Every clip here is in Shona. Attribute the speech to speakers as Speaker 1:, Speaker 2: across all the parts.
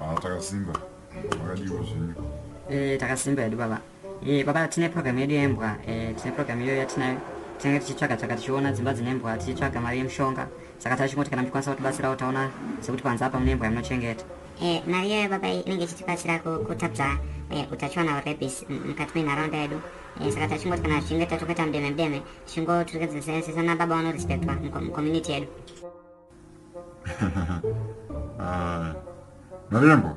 Speaker 1: Ah, takasimba
Speaker 2: makadiwa zvenyu eh, takasimba hedu baba
Speaker 1: eh, baba tine program yedu yembwa eh, tine program iyoyo yatinayo tinenge tichitsvaga tsvaga tichiona dzimba dzine mbwa tichitsvaga mari yemushonga saka tachingoti kana muchikwanisa kutibatsirawo taona sekuti panze apa mune mbwa yamunochengeta eh, mari iyoyo
Speaker 3: baba inenge ichitibatsira kutapza eh, utachiwana urebis mukati menharaunda yedu eh, saka tachingoti kana zvichinge tatokuita mudeme mudeme tichingoturikedzesesana baba vanorespectwa mucommunity yedu Ah,
Speaker 2: Marembo.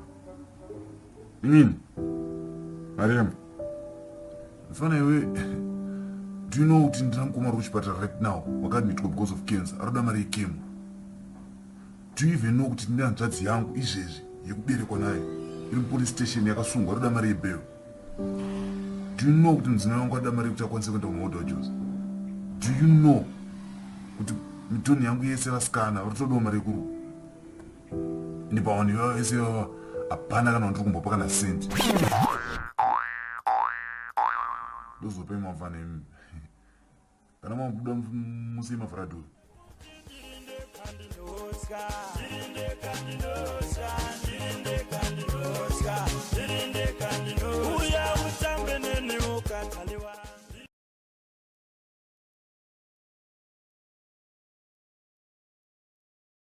Speaker 2: Inini. Marembo. Mfana iwe. Do you know kuti ndina mukoma uri kuchipatara right now wakaadmitwa because of cancer aroda mari yekemo do you even know kuti ndine hanzvadzi yangu izvezvi yekuberekwa nayo iri mupolice station yakasungwa aroda mari yebhero Do you know kuti mudzimai wangu ada mari yekuti akwanise kuenda kumaodojos? Do you know kuti mitoni yangu yese vasikana vari kutodawo mari yekuruwa? Ndi pawanhu ivava vese ivava hapana kana wandiri kumbopa kana sendi. Ndozopa imavana imi. kana mabuda musei mavhara dhovi uya utambe neni ukataliwa